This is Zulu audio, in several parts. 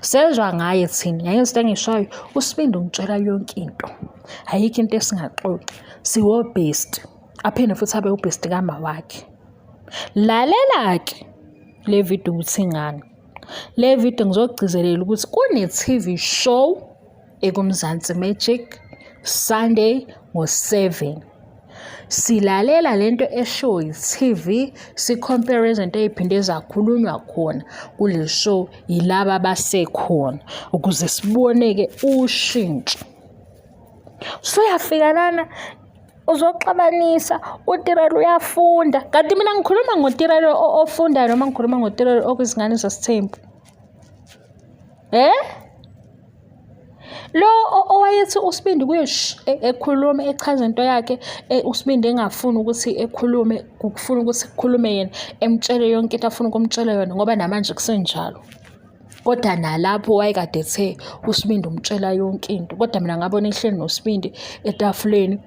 Sezwa ngaye thina yayenza into engishoyo usibindi ungitshela yonke into ayikho into esingaxoxi siwobest aphinde futhi abe ubest kama wakhe lalela-ke le video ukuthi ngani le video ngizogcizelela ukuthi kune-tv show ekumzansi magic sunday ngo-7 silalela lento eshow yi-tv sikhompere izinto ey'phinde zakhulunywa khona kule show yilaba abasekhona ukuze sibone-ke ushintsho suyafika lana uzoxabanisa utirelo uyafunda kanti mina ngikhuluma ngotirelo ofunda noma ngikhuluma ngotirelo okwizingane zesithembu Eh? Lo owayethi uSibindi kuye e, ekhuluma echaza into yakhe e, uSibindi engafuni ukuthi ekhulume kufuna ukuthi kukhulume yena emtshele yonke into afuna ukumtshela yona ngoba namanje kusenjalo. Kodwa nalapho wayekade ethe uSibindi umtshela yonke into kodwa mina ngabona ehleli noSibindi etafuleni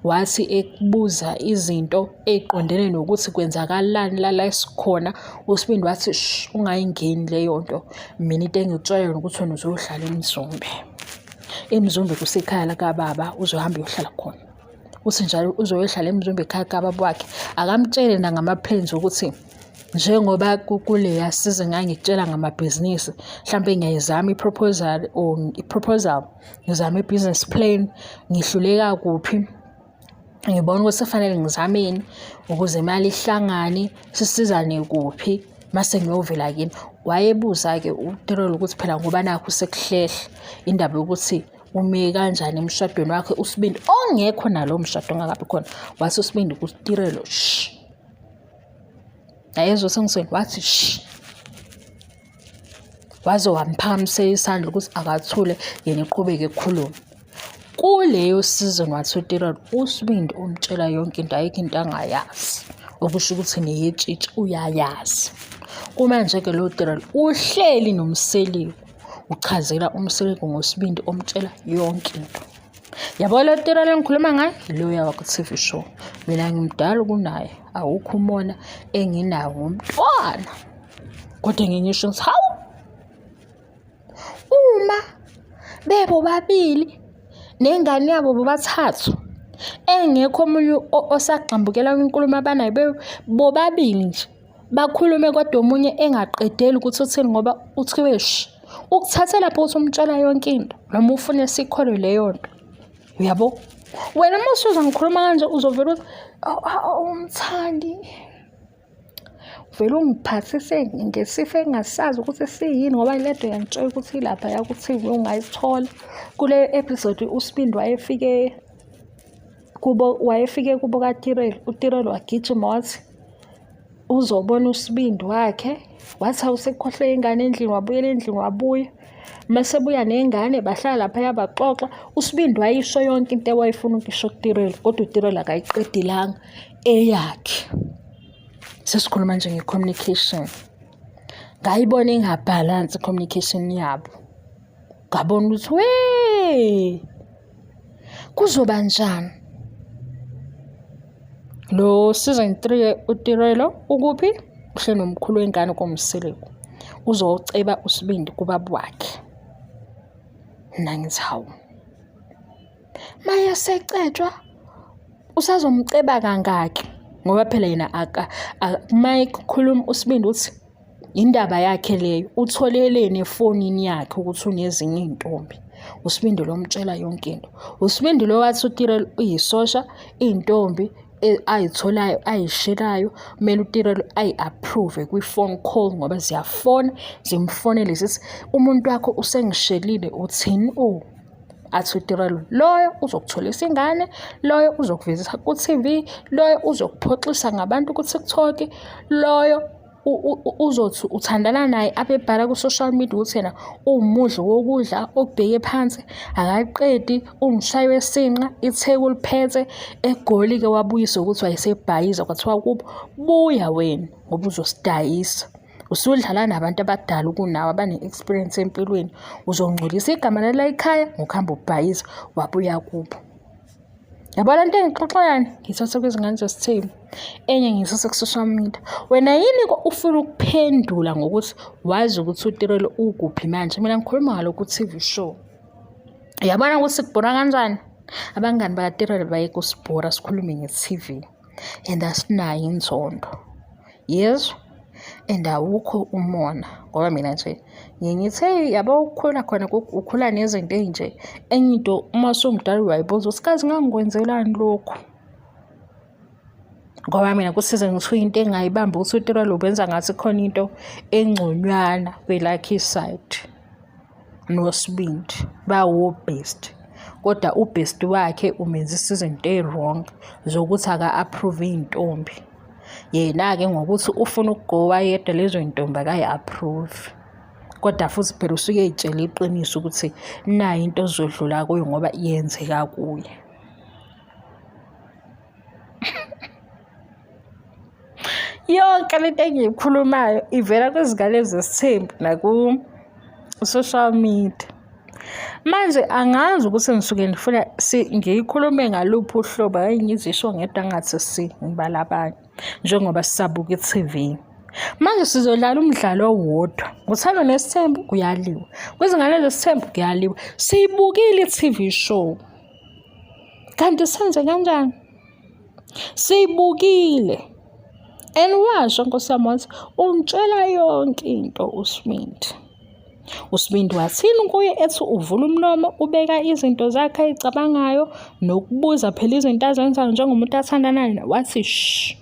wathi ekubuza izinto ey'qondene nokuthi kwenzakalani la la esikhona uSibindi wathi ungayingeni leyo nto mina into engikutshela yona ukuthi wena uzohlala emzumbe emzumbe kusekhaya lakababa uzohamba uyohlala khona uthi njalo uzoyohlala emzumbe ekhaya kababa wakhe akamtshele nangama-plans ukuthi njengoba kuleya size ngangikutshela ngamabhizinisi mhlawumbe ngiyayizama i-proposal or i-proposal ngizame i-business plan ngihluleka kuphi ngibona ukuthi kufanele ngizameni ukuze imali ihlangane sisizane kuphi mase ngiyovela kini wayebuza-ke uterolo ukuthi phela ngoba nakho sekuhlehla indaba yokuthi ume kanjani emshadweni wakhe usibindi ongekho nalowo mshado ongakabi khona wathi usibindi kutirelo shi yayezwa sengisweni wathi shi waze wamphakamisela isandla ukuthi akathule yena eqhubeke ekhulume kuleyo season wathutirod usibindi umtshela yonke into ayikho into angayazi okusho ukuthi neyetshitshi uyayazi kumanje-ke lo tirol uhleli nomseliku uchazela umseliku ngosibindi omtshela yonke into yabo lo tira lengikhuluma ngayo loya wakwa-tv show mina ngimdala kunaye awukho umona enginawo ngomntwana kodwa ngingisho ngithi hawu uma bebo babili nengane yabo bobathathu engekho omunye osagxambukela kwinkulumo abanayo bobabili nje bakhulume kodwa omunye engaqedeli ukuthi uthini ngoba uthiwe shi ukuthathe lapho ukuthi umtshela yonke into noma ufune sikholwe leyo nto uyabo wena uma usuza ngikhuluma kanje uzovela ukuthi umthandi vele ungiphathise ngesifo engasazi ukuthi siyini ngoba le nto yangitshela ukuthi ilapha yakuthi ungayithola kuleyo episode usibindi wayefike kubo wayefike kubo kaTireli uTireli wagijima wathi uzobona usibindi wakhe wathi awusekhohle ingane endlini wabuyela endlini wabuya mase buya nengane bahlala laphaya baxoxa usibindi wayisho yonke into ewayefuna ukisho kuTireli kodwa uTireli akayiqedilanga eyakhe sesikhuluma nje nge-communication ngayibona ingabhalansi i-communication yabo ngabona ukuthi wee kuzoba njani lo season 3 utirelo ukuphi uhle nomkhulu wengane komseleku uzoceba usibindi kubaba wakhe nangithi hawu maye secetshwa usazomceba kangaki ngoba phela yena aka mayikhuluma usibindi uthi Indaba yakhe leyo utholeleni efonini yakhe ukuthi unezinye iy'ntombi. USibindi lo mtshela yonke into. USibindi lo wathi uTirelo uyisosha, iy'ntombi e, ayitholayo ayishelayo kumele uTirelo ayi-approve kwi-phone call ngoba ziyafona zimfonele zithi umuntu wakho usengishelile uthini o. Oh. athi utirelo loyo uzokutholisa ingane loyo uzokuvezisa ku-tv loyo uzokuphoxisa ngabantu ku-tiktok loyo uzothi uthandana naye abebhala ku-social media ukuthi yena uwumudli wokudla okubheke phansi akaqedi umshayi wesinqa itheku liphethe egoli-ke wabuyisa ukuthi wayesebhayiza kwathiwa kubo buya wena ngoba uzosidayisa usudlala nabantu abadala ukunawe abane-experience empilweni uzongcolisa igama lela ikhaya ngokuhamba ubhayiza wabuya kubo yabo le nto engixoxayani ngiyithathe kwizingane zesithembu enye ngiyithathe ku-social media wena yini ufuna ukuphendula ngokuthi wazi ukuthi utirelo ukuphi manje mina ngikhuluma ngalo ku-tv show yabona ukuthi kubhora kanjani abangani bakatirelo bayeke usibhora sikhulume nge-tv and asinayo inzondo yezwa and awukho umona ngoba mina nje ngiye ngithe yabo ukukhula khona ukhula nezinto ezinje enye into uma sungidala uyayibuza ukuthi kazi ngangikwenzelani lokhu ngoba mina kusize ngithiwa into engayibamba ukuthi utelwa lo benza ngathi khona into engconywana kwelakhe isayidi nosibindi bawobest kodwa ubest wakhe umenzisa izinto eziwrong zokuthi aka-approve iy'ntombi yena-ke ngokuthi ufuna ukugowa yedwa lezo y'ntombi akayi-approve kodwa futhi phela usuke ey'tshele iqiniso ukuthi nayo into ozodlula kuyo ngoba yenzeka kuye yonke le nto engiyikhulumayo ivela kwizingane zesithembu naku-social media manje angazi ukuthi ngisuke ndifuna ngiyikhulume ngaluphi uhlobo ayi ngizisho ngedwa ngathi si ngibala abanye njengoba sisabuka i-tv manje sizodlala umdlalo owodwa nguthando nesithembu kuyaliwa kwizingane zesithembu kuyaliwa siyibukile i-tv show kanti senze kanjani Sibukile. And washo Nkosi yami wathi ungitshela yonke into uSmith. USibindi wathini kuye ethi uvula umlomo ubeka izinto zakhe ayicabangayo nokubuza phela izinto azenzayo njengomuntu athandana naye wathi shh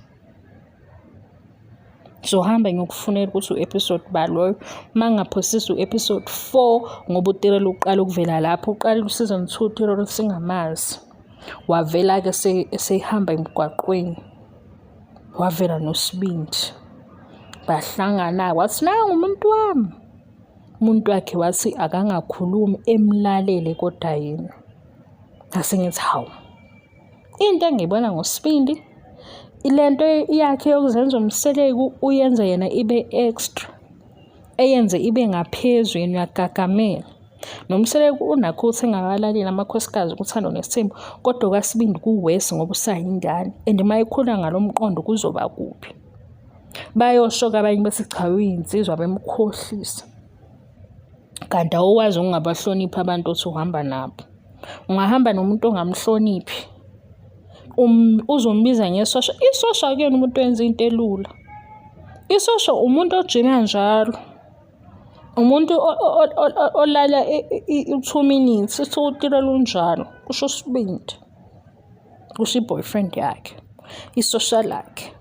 ngizohamba ngiyokufunela ukuthi u-episode ba loyo uma ngingaphosisa u-episode four ngoba utirelo uqala ukuvela lapho uqala ku-season two utirelo singamazi wavela-ke esehamba emgwaqweni wavela nosibindi bahlangana wathi nangu umuntu wami umuntu wakhe wathi akangakhulumi emlalele kodwa yena ngase ngithi hawu Into engiyibona ngosibindi ile nto yakhe yokuzenza umseleku uyenze yena ibe extra eyenze ibe ngaphezu yena uyagagamela nomseleku unakho ukuthi engakalaleli amakhosikazi ukuthando nesimo kodwa kwasibindi kuwesi ngoba usayingane and uma ikhula ngalo mqondo kuzoba kuphi bayosho-ke abanye bethi cha uyinsizwa bemkhohlisa kanti awukwazi ukungabahloniphi abantu othi uhamba nabo ungahamba nomuntu ongamhloniphi um, uzombiza ngesosha isosha kuyona umuntu wenza into elula isosha umuntu ojima njalo umuntu olala i-two minutes isiwutilo lunjalo kusho usibindi kusho i-boyfriend yakhe isosha lakhe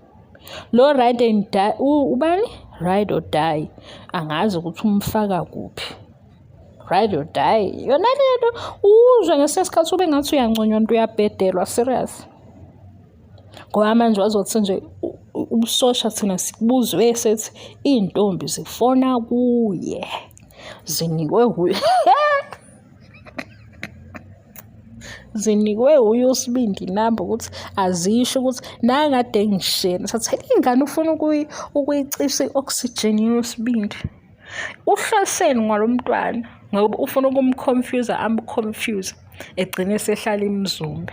lo ride and die ubani ride or die angazi ukuthi umfaka kuphi ride or die yona lento uzwe ngesinye isikhathi ube ngathi uyanconywa nto uyabhedelwa serious ngoba manje wazothi nje ubusosha thina sikubuzwe sethi iy'ntombi zifona kuye zinikwe kuye zinikwe uye usibindi inamba ukuthi azisho ukuthi nangade ngishela sathi ingane ufuna ukuyicisa i-oxygen yosibindi uhloseni ngalo mntwana ngoba ufuna ukumconfuse amconfuse egcine esehlala imzumbe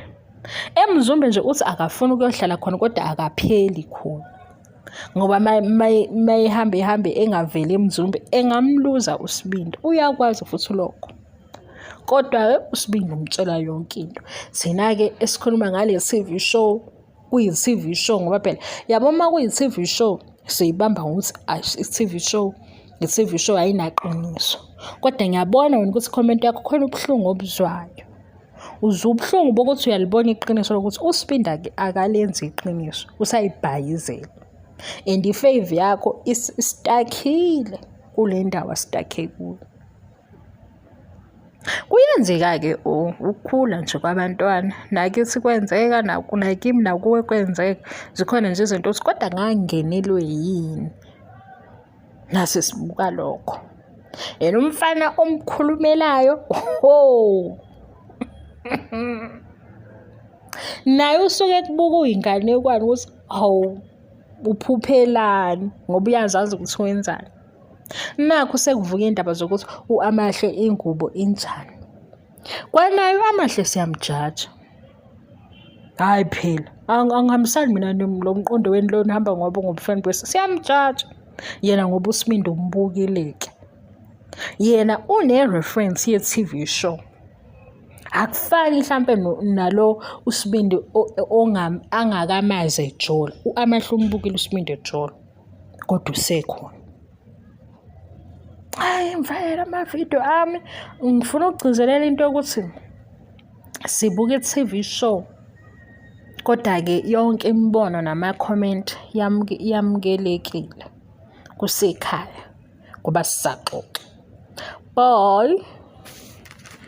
emzumbe nje uthi akafuni ukuyohlala khona kodwa akapheli khona ngoba mayihambe ihambe engaveli emzumbe engamluza usibindi uyakwazi futhi lokho Kodwa-ke uSibindi umtshela yonke into. Thina-ke esikhuluma ngale TV show, kuyi-TV show ngoba phela yabo uma kuyi-TV show siyibamba ngokuthi i-TV show i-TV show ayinaqiniso. Kodwa ngiyabona wena ukuthi comment yakho khona ubuhlungu obuzwayo. Uzwa ubuhlungu bokuthi uyalibona iqiniso lokuthi uSibindi akalenzi iqiniso, usayibhayizela. And i-fave yakho isitakile kule ndawo asitake kuyo. Kuyenzeka-ke ukukhula nje kwabantwana, nakithi kwenzeka nakimi nakuwe kwenzeka. Zikhona nje izinto ukuthi kodwa ngangingenelwe yini? Nase sibuka lokho. Yena umfana omkhulumelayo, hho! Naye usuke ekubuka uyinganekwane ukuthi, hawu, uphuphelani ngoba uyazazi ukuthi wenzani. nakho sekuvuka iy'ndaba zokuthi u-amahle ingubo injani kwanayo amahle siyamjaja hhayi phela angihambisani mina lo mqondo weni lo nihamba ngoba ngobufeni bese siyamjaja yena ngoba usimindo umbukileke yena une-reference ye-tv show akufani mhlampe nalo usibindi angakamazi ejolo u-amahle umbukile usibindi ejolo kodwa usekhona hayi ngifakele amavidiyo ami ngifuna ukugcizelela into yokuthi sibuka i-tv show kodwa-ke yonke imibono namakhomenti yamukelekile kusekhaya ngoba sisaxoxa boy